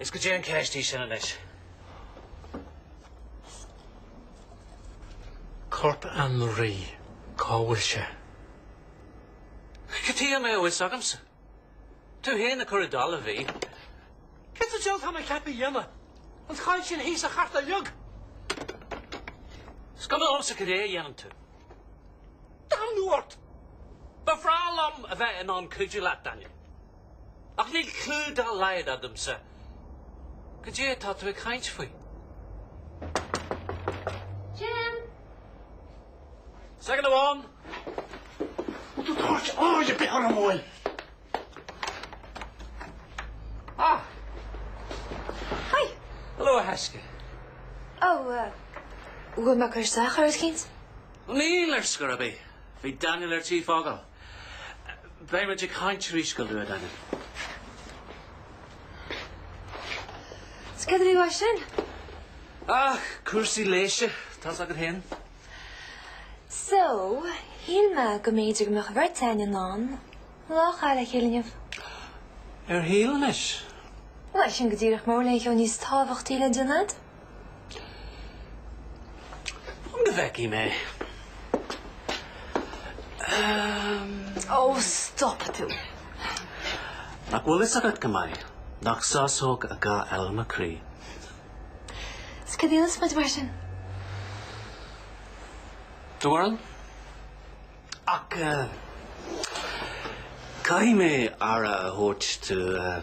Is cad é an cheist í sin anois. Corp Andy, cá bhfuil sé? Cad chuige a mbeadh a fhios agamsa? Tú féin a chuir i dtalamh é. Céard sa diabhal atá mé ceaptha a dhéanamh? An choill sin thíos a chartadh uilig? Is cuma liomsa cad é a dhéanann tú. Damnú ort! Ba bhreá liom a bheith in ann cuidiú leat, Daniel. Ach níl clú dá laghad agamsa cad é atá tú ag caint faoi. Jim! S'againn amháin! An bhfuil tú ag tabhairt aird ar bith orm, Eoin? Ah! Hi! Hello, a thaisce! Ó, bhfuil mé ag cur isteach ar rud eicínt? Níl, ar scor ar bith. Bhí Daniel ar tí fágáil. Beidh muid ag caint arís go luath, Daniel. Is cad a bhí uaidh sin? Ah, cúrsaí leighis. Tá's agat féin? So, shíl mé go mb'fhéidir go mbeadh an bheirt againn in ann lá a chaitheamh le chéile inniu. Ar shíl anois? Bhuel, sin go díreach mura bhfuil aon cheo níos tábhachtaí le déanamh. Cad a bhfeicfidh mé? Ehm. Ó, stop tú! Nach bhfuil a fhios agat go maith nach sásóg a gá eile i mo chroí? Is cad iad is muid mar sin? Tuairl. Ach caithfidh mé aire a thabhairt dó.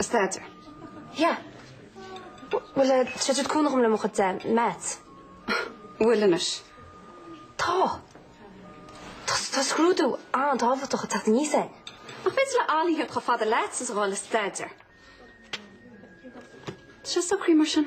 Staidéar. Yeah. Bhuel, tá sé ag cúnamh dhom le mo chuid maths. An bhfuil anois? Tá. Tá scrúdú an-tábhachtach ag teacht aníos é. Ach b'fhéidir le Allihirt chomh fada leat is a dhul le staidéar. Sin socraithe mar sin.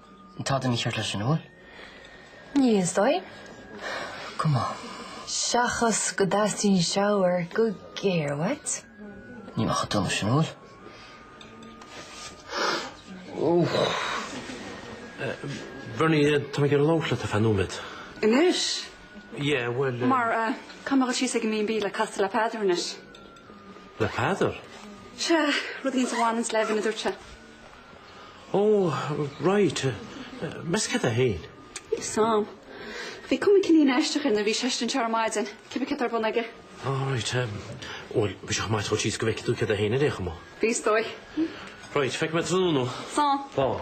Tada mícheart leis, an bhfuil? Níl, is dóigh. Go maith. Seachas go dteastaíonn shower go géar uait. Ní maith duit leis, an bhfuil? Bernie, tá mé ag iarraidh labhairt leat ar feadh nóiméad. Anois? Yeah, bhuel. Mar caithfidh mé a bheith thíos ag an mB&B le casadh le Peadar anois? Le Peadar? Sea, rud inteacht a bhaineas le Evan, a dúirt sé. Oh right, meas tú cad é faoi? Sam. Bhí cuma cineál aisteach air nuair a bhí seisean anseo ar maidin, cibé cad atá ar bun aige. Oh right, bhuel bheadh sé chomh maith dul síos go bhfeice tú cad é féin ar aon chuma. Bheadh is dóigh. Right, feicfidh mé tráthnóna thú. Slán. Slán.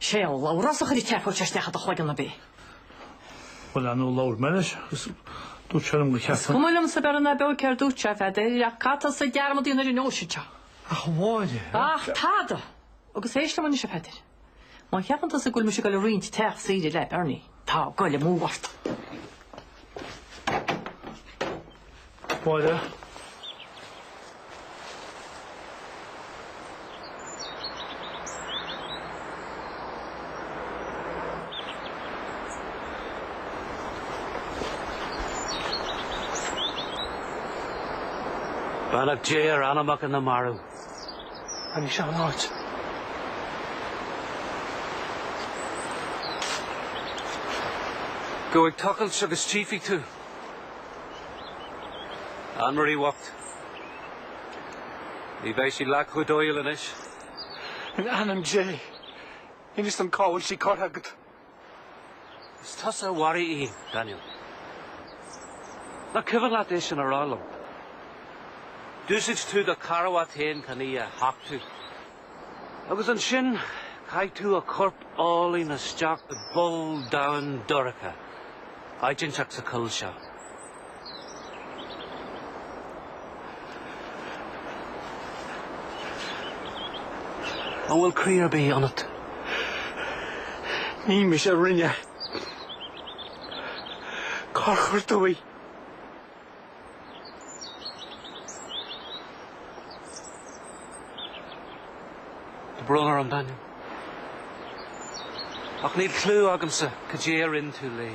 Sé Labhrás a chuir an tseafóid isteach i do chloigeann ar bith. Bhuel, ar ndóigh labhair mé leis agus dúirt sé liom go cheart. Is cuma liom sa bhearna beag céard a dúirt sé a Pheadair ach caithfidh tusa dearmad a dhéanamh ar an nóisean seo? Ach a Mháire. Ach tada! Agus éist liom anois a Pheadair. Má cheapann tusa go bhfuil mise ag dul a roinnt teach saoire le Berni. Tá goil amú ort. Máire. Beannacht Dé ar anamacha na marbh. An í seo an áit? Gabh ag tochailt agus tífidh tú. Anne-Marie bhocht. Ní bheidh sí leath chomh dóighiúil anois. In ainm Dé, inis dom cá bhfuil sí curtha agat. Is tusa a mharaigh í, Daniel. Nach cuimhin leat é sin a rá liom? D'úsáid tú do charbhat féin chun í a thachtadh. Agus ansin chaith tú a corp álainn isteach i bpoll domhain dorcha, áit inteacht sa choill seo. An bhfuil croí ar bith ionat? Ní mise a rinne. Cár chuir tú í? Tá brón orm, a Daniel. Ach níl cliú agamsa cad é a rinn tú léi.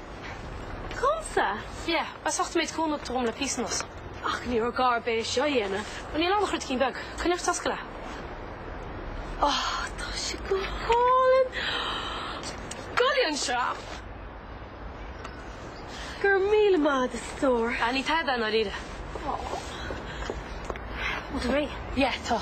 Domsa? Yeah, as ucht an méid cúnamh a thug tú dhom le píosa anuas. Ach ní raibh gá ar bith é seo a dhéanamh. Bhuel, níl ann ach ruidín beag. Coinnigh ort, oscail é. Oh, tá sé go hálainn. Gabh i leith anseo. Go raibh míle maith agat a stór. Ah, ní tada é i ndáiríre. Aww. Bhfuil tú réidh? Yeah, tá.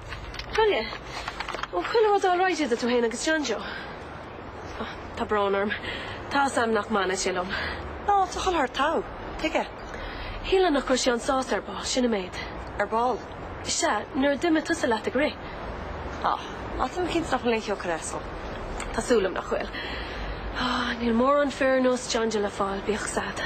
Gabh i leith! Ó, chuile rud alright idir tú féin agus John Joe? Ó, tá brón orm. Tá's am nach mbaineann sé liom. Ná tá chuile shórt togha. Tuige? Shíl mé nach raibh sé an-sásta ar ball, sin an méid. Ar ball? Sea, nuair a d'imigh tusa leat ag rith. Á, á, táim cinnte nach bhfuil aon chlóic air so. Tá súil liom nach bhfuil. Ó, níl mórán fir ar nós John Joe le fáil, bíodh 's ad.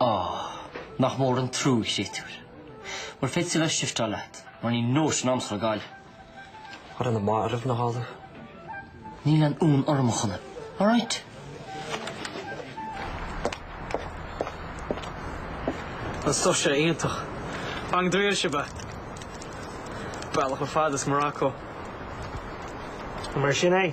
Á! Nach mór an trua, a chréatúir. Bhuel, féadfaidh tú a bheith ag sifteáil leat, mar níl nóisean agamsa a ghabháil. Ar an marbh, nach eol dó? Níl aon fhonn orm, a Chonaill. All right? An stuif seo iontach. Bang dríl se be. Bealach ar fad as Morocco. Mar sin é?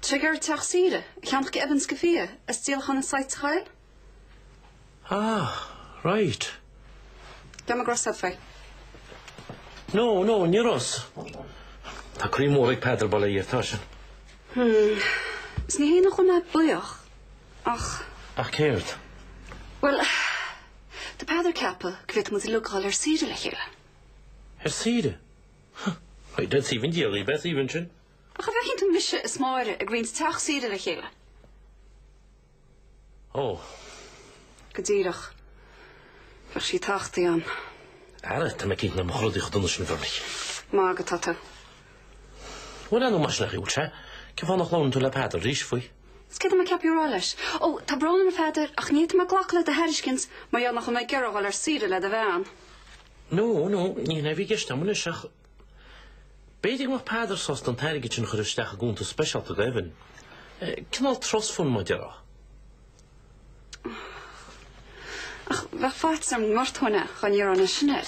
Tá sé ag iarraidh teach saoire a cheannach do Evan is do Fia, as díolachán an site sa choill. Ah, right. Bia mo gros abfai. No, no, ni ros. Tá croí mór ag Peadar, bail ó Dhia air, tá sin. Hm, 'S ní hé nach bhfuil mé buíoch, ach. Ach céard? Bhuel, tá Peadar ag ceapadh go bhféadfadh muid uilig a ghabháil ar saoire le chéile. Ar saoire? Huh, right, that's even dearly, beth even sin. Ach an bhfeiceann tú mise is Máire ag roinnt teach saoire le chéile. Ó! Go díreach. Bheadh sí tachta agam. Ara, tá mé cinnte nach mbeadh rudaí chomh dona sin, a Bhernie. Ag magadh atá tú. Bhuel, leanadh mar sin a shiúil sé. Cén fáth nach labhrann tú le Peadar arís faoi? Is céard atá mé ceaptha a rá leis? Ó, tá brón orm, a Pheadair, ach ní fhéadfaidh mé glacadh le do thairiscint mar gheall nach bhfuil mé ag iarraidh dul ar saoire le do bhean. Nó, nó, ní hin é a bhí i gceist agam anois, ach. B'fhéidir go mbeadh Peadar sásta an t-airgead sin a chur isteach i gcuntas speisialta do Evan. Cineál trust fund mar a déarfá. Ach bheadh faitíos orm go ngortóinn é gan iarraidh anois, sin é.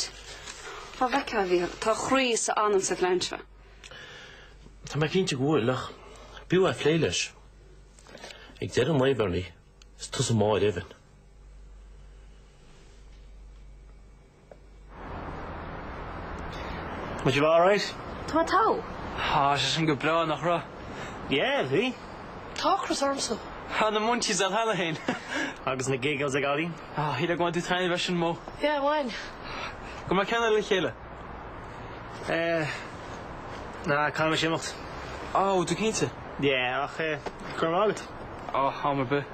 Fá bhfeiceadh a bhíodh. Tá a chroí is a anam sa phlean seo. Tá mé cinnte go bhfuil, ach b'fhiú é a phlé leis. Ag deireadh an lae, Bhernie, is tusa máthair Evan. An bhfuil tú alright. Tá an t-adh? Bhí sé sin go breá, nach raibh? Yeah, bhí. Tá ocras ormsa. Tá na munchies ar thalamh féin. Agus na giggles ag Ollie. Ah, shíl ar bhain tú taitneamh as an mbó. Yeah, bhain. Go mbeadh ceann eile le chéile. Eh, no, caithfidh mise imeacht. Oh, tú cinnte? Yeah, ach eh, go raibh maith agat. Oh, am ar bith.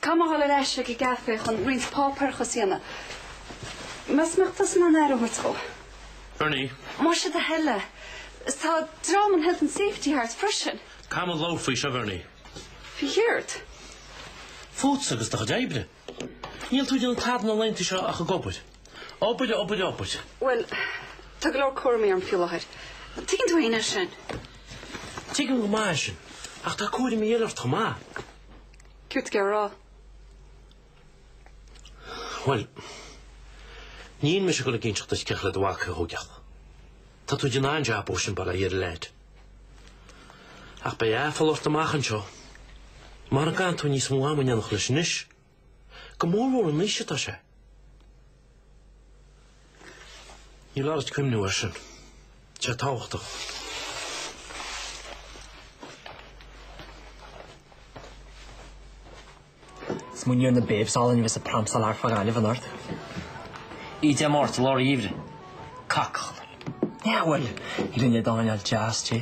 Caithfidh mé a dhul ar ais ag an gcaifé chun roinnt páipéarachas a dhéanamh. Meas tú an mbeadh tusa in ann aire a thabhairt dhó. Bernie. Más é do thoil é. Tá dream an Health and Safety thart freisin. Caithfidh muid labhairt faoi seo, Bhernie? Faoi chéard? Fút agus do chuid oibre. Níl tú ag déanamh tada na laethanta seo ach ag obair. Obair, obair, obair. Bhuel, tá go leor cúraimí orm faoi láthair. Tuigeann tú féin é sin. Tuigim go maith é sin, ach tá cúraimí eile ort chomh maith. Céard tá tú ag rá? Bhuel, níl mise ag dul ag inseacht duit cén chaoi le do mhac a thógáil ach tá tú ag déanamh an-jab dó sin, bail ó Dhia ar an leaid. Ach beidh aiféala ort amach anseo. Mara gcaitheann tú níos mó ama in éineacht leis anois. Go mór mór an aois atá sé. Ní foláir duit cuimhniú air sin. Tá sé tábhachtach. Smaoiníonn na Babes álainn a bheith sa pram sa lár fá Ghaillimh anort. I dTeach Márta, lár gheimhridh. Cacall. Ná fuil! Rinne Dónal deas di.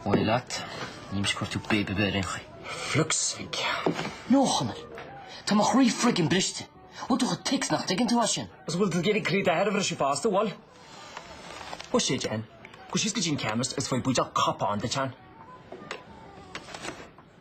Bhail leat, nímse ag cur tú Babe a bheith ar aon chaoi. Fliucs Mhic. No, a Chonaill, tá mo chroí friggin briste. Bhfuil tú chomh thick is nach dtuigeann tú é sin? Is bhfuil tú ag iarraidh croí d'athair a bhriseadh fosta, bhfuil? Ó, sé dein. Cuir síos go dtí an ceann, is beidh buidéal cupán duit ann.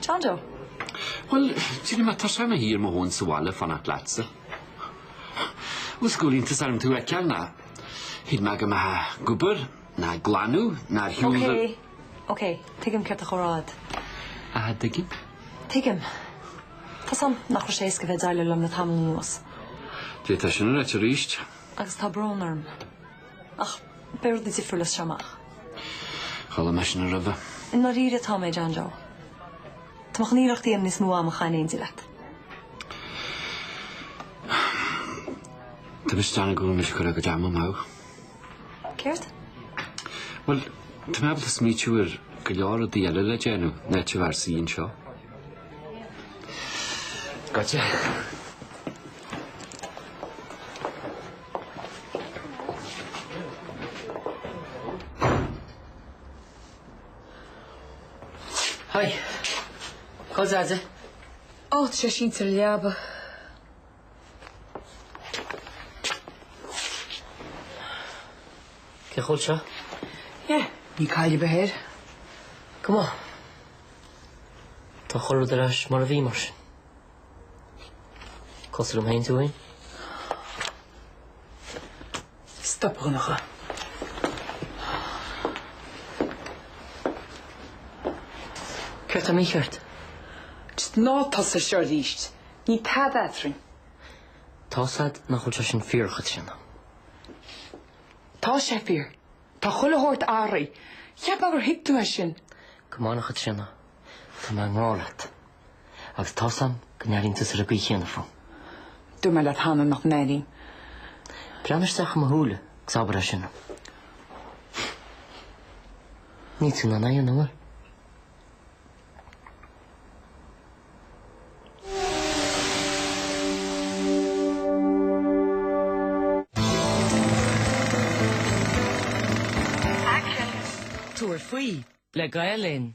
John Joe. Bhuel, d'éirigh mé tuirseach i mo shuí ar mo thóin sa bhaile ag fanacht leatsa. Bhuel, go bhfuil iontas orm tú a fheiceáil, nó thuig mé go mbeifeá ag obair, nó ag glanadh, nó ar shiúl. Ok, ok, tuigim céard atá tú a rá. Aha, dtuigeann? Tuigim. Tá's agam nach raibh sé éasca bheith ag déileáil liom le tamall anuas. D'fhéadfá sin a ráit arís. Agus tá brón orm. Ach beidh rudaí difriúil as seo amach. Chuala mé sin roimhe. I ndáiríre atá mé, John Joe. Tá mé chun iarracht a dhéanamh níos mó ama a chaitheamh in éindí leat. Tá mé ag déanamh go bhfuil mise ag cur mo chuid ama amú. Céard? Bhuel, tá mé ábalta smaoitiú ar go leor rudaí eile le déanamh ná TRC anseo. Caidé? Hi. Cos as it? Oh, tá sé sínte sa leaba. Cén chaoi a bhfuil sé? Yeah, níl caill ar bith air. Go maith. Tá chuile rud ar ais mar a bhí mar sin. Cosúil liom féin is tú féin? Stop a Dhonncha. Céard tá mícheart? Just ná tosaigh seo arís. Níl tada eadrainn. Tá's a'd nach bhfuil sé sin fíor, a Chaitríona. Tá sé fíor. Tá chuile shórt athraithe. Cheap mé gur thuig tú é sin. Come on, a Chaitríona. Tá mé i ngrá leat. agus tá a fhios agam go n-airíonn tusa ar an gcaoi chéanna fúm. Dúirt mé leat cheana nach n-airím. Breathnaigh isteach i mo shúile agus abair é sin. Níl tú in ann aon uair. Tabhair faoi le Gael Linn.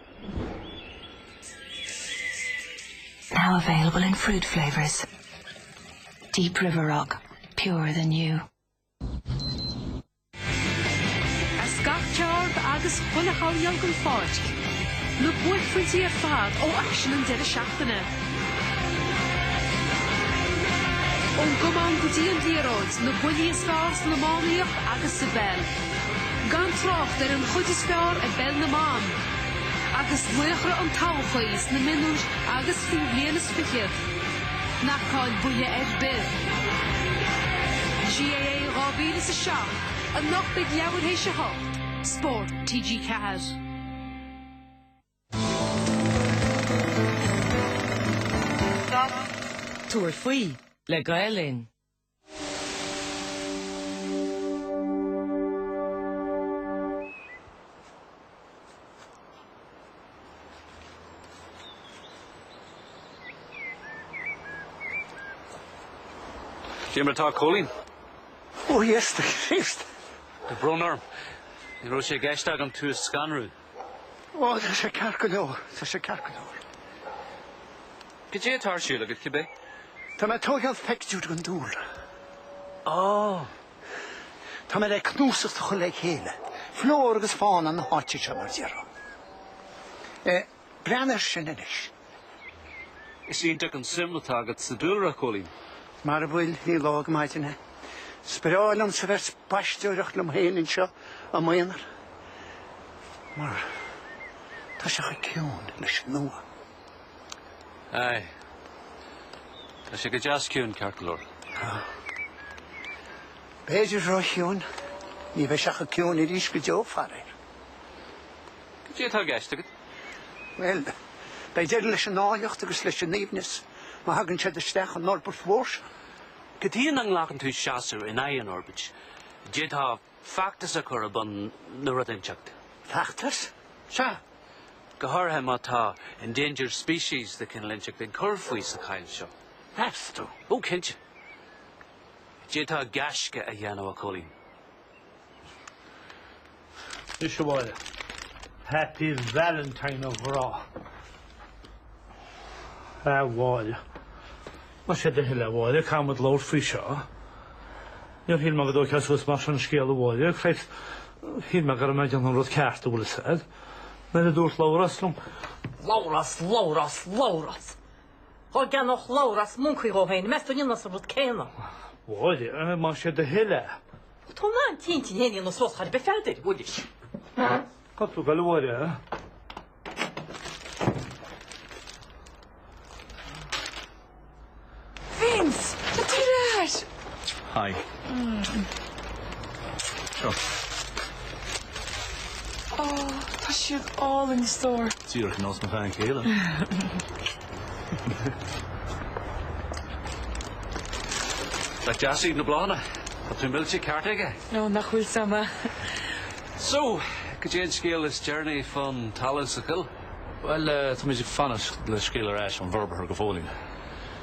Now available in fruit flavours. Deep River Rock, purer than you. As gach ceard agus chuile shamhail den pháirc, na buaicphointí ar fad ó aicsean an deireadh seachtaine. Ón gcamán go dtí an liathróid, na buillí is fearr san iománaíocht agus sa bpeil. Gan trácht ar an chuid is fearr i bpeil na mban agus laochra an todhchaí sna mionúir agus faoi bhliain is fiche, ná caill buille ar bith. GAA 2007, anocht ag leathuair tar éis 8, Spórt TG4. Stop! Tabhair faoi le Gael Linn. Cad é mar atá Cóilín? Ó Íosa Críost! Brón orm. Ní raibh sé i gceist agam tú a scanrú. Ó, tá sé ceart go leor, tá sé ceart go leor. Cad é atá ar siúl agat, cibé? Tá mé ag tógáil pictiúir den dúlra. Ó! Tá mé le cnuasacht a chur le chéile, flóra agus fána na háite seo mar déarfá. Eh, breathnaigh air sin anois. Is iontach an suim atá agat sa dúlra, a Chóilín. Mara bhfuil, ní lá go maidin é. Is breá liomsa bheith ag spaisteoireacht liom féin anseo i m'aonar, mar tá sé chomh ciúin leis an uaigh. Aye. Tá sé go deas ciúin ceart go leor. B'fhéidir ró chiúin, ní bheidh sé chomh ciúin arís go deo faraor. Cad é atá i gceist agat? Bhuel, beidh deireadh leis an áilleacht agus leis an aoibhneas má thugann siad isteach an fhorbairt mhór seo. Cad chuige nach nglacann tú seasamh in aghaidh an fhorbairt, d'fhéadfá feachtas a chur ar bun nó rud inteacht. Feachtas? Sea. Go háirithe má tá endangered species de chineál inteacht ag cur faoi sa choill seo. Meas tú? Ó, cinnte. D'fhéadfá gaisce a dhéanamh, a Chóilín. Mise abhaile. Happy Valentine a ghrá. A Mholly. Más é do thoil é, a Mholly, caithfidh muid labhairt faoi seo. Níor shíl mé go dtógfadh sé suas mar sin an scéal, a Mholly, a chroí. Shíl mé go raibh mé ag déanamh an rud ceart an bhfuil a fhios agat. Nuair a dúirt Labhrás liom, Labhrás, Labhrás, Labhrás! Dhá gceannódh Labhrás moncaí dhó féin, meas tú an ndéanfása an rud céanna? Mholly, más é do thoil é. Tá na an t-intinn féin ina sós char bith feadair, uilig. Ceart go leor, eh? Vince! Tá tú ar ais! Hi. Seo. Ó, tá siad álainn a stór. Díreach ar nós mo bhean chéile. Nach deas iad na bláthanna. Tá tú millte ceart aige. Ó nach bhfuil a fhios agam é. So, goidé an scéal is deireanaí fán talamh sa choill. Bhuel, táimid ag fanacht le scéal ar ais ón bhforbróir go fóillín.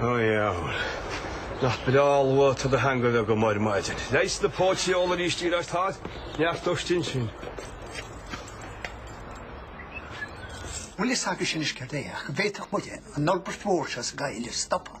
Ó dheabhail, nach breá luath atá do theanga amuigh agat ar maidin. Leigheas na póite a ól arís díreach ar Todd, neart dustin sin. Bhfuil a fhios agatsa anois céard é, ach d'fhéadfadh muide an fhorbairt mhór seo sa gcoill a stopadh.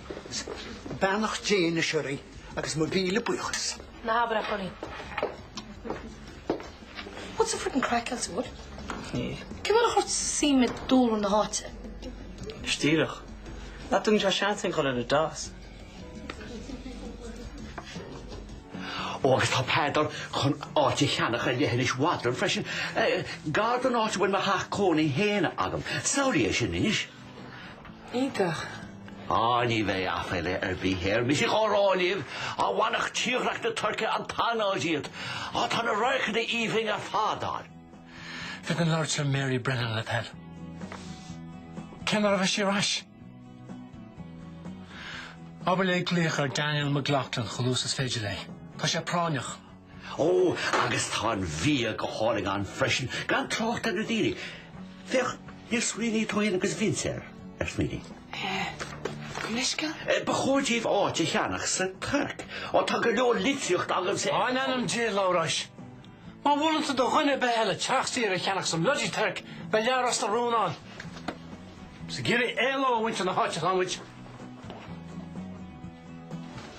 Is beannacht Dé na síoraí agus mo mhíle buíochas. Ná habair é, a Chonaill. What's the frickin craic Kelsey Wood? Níl. Cén uair a chuir tú suim i ndúlra na háite? Is díreach. Nach dtugann sé seans aon chor ar an dás. Ó agus tá Peadar chun áit a cheannach ar leithinis Bhodrum freisin. Gar don áit a bhfuil mo theach cónaí féin agam. Samhlaigh é sin anois. Iontach. Á, ní bheidh aiféala ar bith air. Mise á rá libh, á bhainfeadh tírdhreach na Tuirce an t-anáil díot. Á, tá na radharcanna aoibhinn ar fad ann. Bhféadfainn labhairt le Mary Brennan le do thoil. Cén uair a bheidh sí ar ais? Abair léi glaoch ar Daniel McLaughlin chomh luath is féidir léi. Tá sé práinneach. Ó, agus tá an bhia go hálainn ann freisin, gan trácht ar na daoine. Féach, níor smaoinigh tú fhéin agus Vince air, ar smaoinigh? Eh, gabh mo leithscéal? Eh, ba chóir daoibh áit a cheannach sa Tuirc. Ó, tá go leor litríocht agamsa. Á, in ainm Dé, a Labhráis. Má mholann tú do dhuine ar bith eile teach saoire a cheannach sa mBloody Tuirc, beidh leath Ros na Rún ann. Is ag iarraidh éalú ó mhuintir na háite atá muid.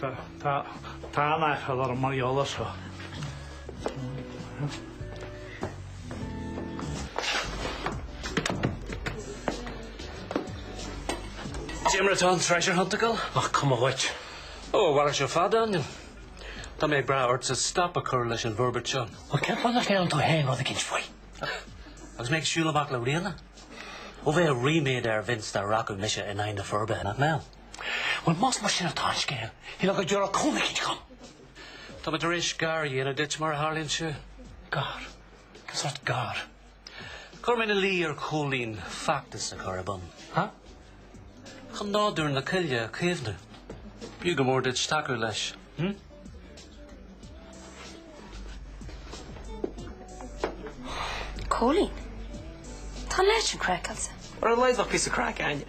Tá an-aiféala orm mar gheall air seo. Déanfar atá an treasure hunt a dhul? Nach cuma dhuit. Ó, bhfuel é seo fada anion. Tá mé ag brath ortsa stop a chur leis an bhforbairt seo. Bhuel, cén fáth nach ndéanann tú féin rud éigint faoi? Agus mé ag siúl amach le Ríona? Ó bheadh ríméad ar Vince dá rachadh mise in aghaidh na forbartha, nach mbeadh? Bhuel, más mar sin atá an scéal, shílfeá go dtabharfá cúnamh éicint dhom. Tá mé tar éis gar a dhéanamh duit, mar a tharlaíonn sé. Gar? Cén sórt gar? Chuir mé ina luí ar Chóilín feachtas a chur ar bun. Ha? Chun nádúr na coille a chaomhnú. B'fhiú go mór duit tacú leis, hm? Cóilín? Tá an leaid sin craiceáilte. Ar a laghad bheadh píosa craic againne.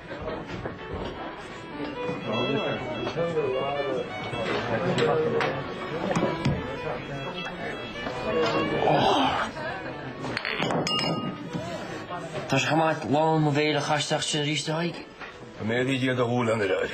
Tá sé chomh maith lán mo bhéil a chaitheamh isteach sin arís a' haghaidh. Go mbeidh Dia do dhúil anoir, a fhir.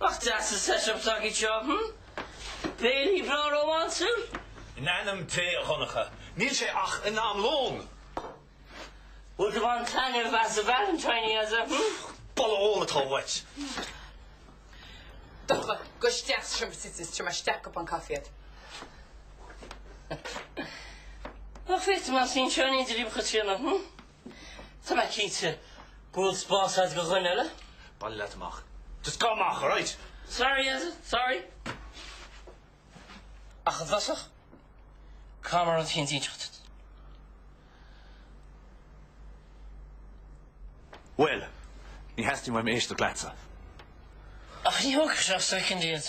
Nach deas an set-up atá agat anseo, hm? Béile breá rómánsúil? In ainm Dé, a Dhonncha, níl sé ach in am lóin! Bhfuil do bhean ag baint taitneamh as a Valentine, aza, hm? Boladh óil atá uait! Donncha, gabh isteach sa seomra suite is tabharfaidh mé isteach cupán coffee agat. Ach féach tú, más níl seo in idir iomchuid trína, hm? Tá mé cinnte go bhfuil spás a'd do dhuine eile. Bailigh leat amach. Just gabh amach, alright? Sorry, as in sorry. Ach i dtosach, caithfidh mé rud éicint a inseacht duit? Bhuel, ní theastaíonn uaim éisteacht leatsa. Ach ní thógfaidh sé ach soicind díot.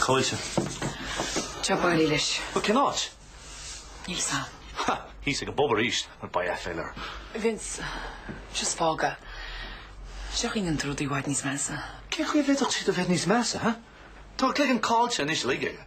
Caoilte. Job áirithe leis. But cén áit? Níl a fhios a'm. Ha! Thíos ag an bpub arís, b'fhéidir. Vince, seo is fága. Seachain go ndéanann tú rudaí i bhfad níos measa. Cén chaoi a bhféadfadh siad a bheith níos measa, ha? Tá an cloigeann caillte anois uilig aige.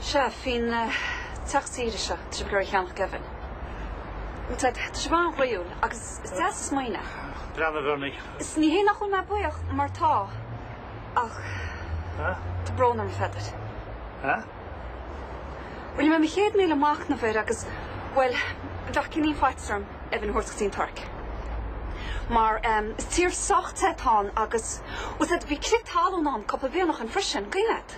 Sea, faoin teach saoire seo trí go raibh Sheánach Gavin, tá sé an-ghnaíúil agus is deas an smaoineamh. Breá na bhFiornaigh. Is ní hé nach bhfuil mé buíoch mar tá, ach tá brón orm a Pheadair. Rinne mé mo chéad míle machnaimh air agus, bhuel, bheadh cineál faitíos orm Maeve a thabhairt go dtí an Tuirc. Mar is tír sách te atá ann agus, bhuel, said, bhí crith talún ann cúpla bliain ó shoin freisin, guím agat.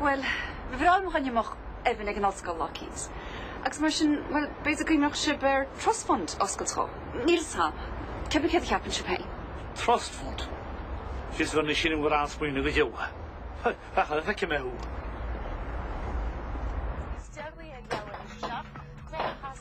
Bhuel, ba bhreá liom a choinne mo Evan ag an ollscoil lá eicínt. Agus mar sin, bhuel, b'fhéidir go mbeadh sibh in ann trust fund a oscailt dhó. Níl fhios a'm. Cé bith céard a cheapann sibh féin. Trust fund? Fios gur na sin an bhfuil an-smaoineamh go deo. Ach an feicfidh mé thú.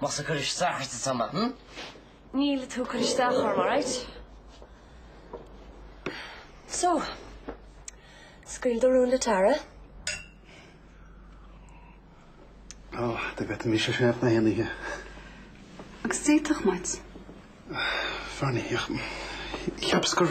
Más ag cur isteach ort atá mé. Níl tú ag cur isteach orm, alright. So, scaoil do rún le Tara. Ó, do bheadh mise sin ag na haonaithe. Agus d'fhéadfadh muid. Fear na hEach. Cheapas gur.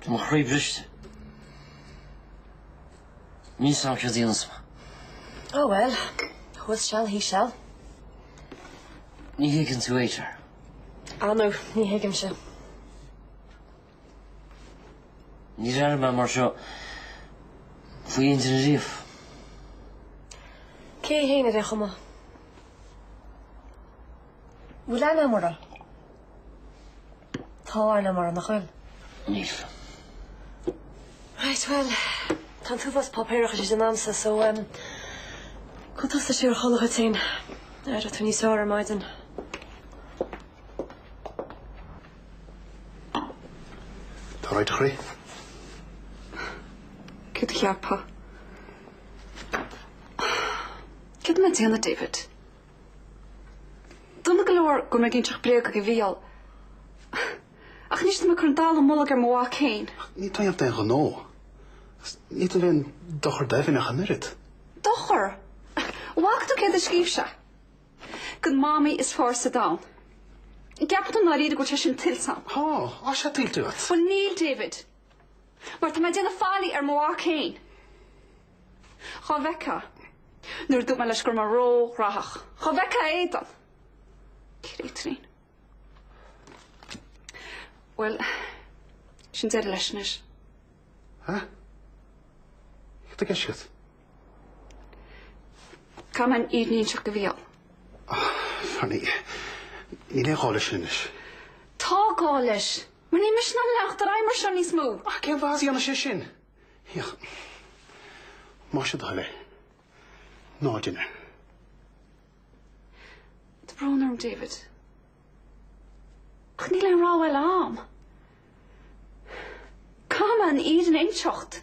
Tá mo chroí briste. Níl fhios a'm céard a dhéanfas mé. Oh well, who's shall he shall. Ní thuigeann tú, Tara. Ah no, ní thuigimse. Níor airigh mé mar seo faoi aon duine riamh. Cé hé fhéin ar aon chuma? Bhfuil aithne agam orthu? Tharla mura nach bhfuil. Níl. Right, bhuel, tá an t-uafás páipéarachais le déanamh a'msa, so ehm, gabh tusa siar a chodladh dhuit féin. Aireoidh tú níos fearr ar maidin. Tá right, a chroí. Céard a cheapfá? Céard tá mé a dhéanamh, David? Dona go leor go mbeinn ag inseacht bréaga do Mhicheál. Ach anois tá mé ag cur an dallamullóg ar mo mhac féin. Ach níl tú á dhéanamh d'aon ghnó. Is níl tú ag déanamh aon dochar d'Evan ach an oiread. Dochar? An bhfaca tú céard a scríobh sé? Don mamaí is fearr sa domhan. An gceapann tú dáiríre go bhfuil sé sin tuillte a'm? Tá, tá sé tuillte agat. Bhuel níl, David. Mar tá mé ag déanamh faillí ar mo mhac féin. Dhá bhfeictheá. Nuair a dúirt mé leis go raibh mé ró-ghraitheach. Dhá bhfeictheá a éadan. Créatúirín. Bhuel, sin deireadh leis anois. Hah? Céard tá i gceist agat? Caithfidh mé an fhírinne a inseacht do Mhicheál. Ahh, ní, níl aon ghá leis anois. Tá gá leis. Mar níl mise in ann leanacht ar aghaidh mar seo níos mó. Ach cén difear a dhéanfaidh sé sin? Híoch. Más é do thoil é. Ná déan é. Tá brón orm, David. Ach níl aon rogha eile a'm. Caithfidh mé an fhírinne a inseacht.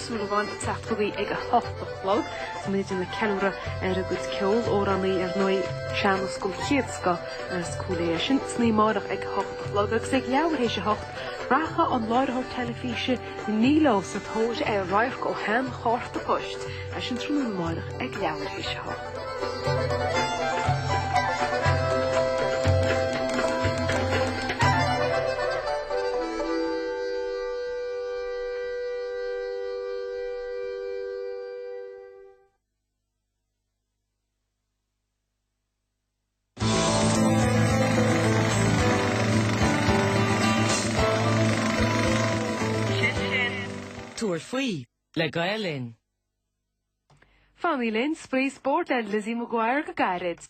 Súilleabháin ag teacht chugainn ag a hocht a chlog. Saoithe ag ceiliúradh ar a gcuid ceol, amhránaí ar ndóigh, sean-nós den chéad scoth as Cúil Aodha í sin. San oíche amáireach ag a hocht a chlog agus ag leathuair théis a hocht rachaidh an láithreoir teilifíse Ní Leo sa tóir ar radharc ó shean chárta poist leis sin tráthnóna amáireach ag leathuair théis a hocht. Sin sin. Tabhair faoi le Gael Linn. Fanaigí linn, Spraoi Spóirt le Lizzie McGuire go gairid.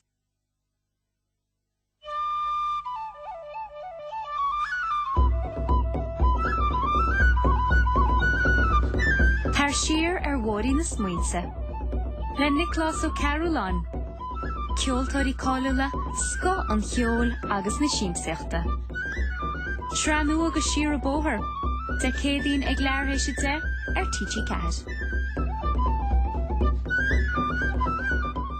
Tar siar ar Bhóithrín na Smaointe le Nioclás Ó Cearbhalláin, ceoltóirí cáiliúla, scoth an cheoil agus na siamsaíochta. Sraith nua de Siar an Bóthar, Dé Céadaoin ag leathuair théis a deich ar TG4.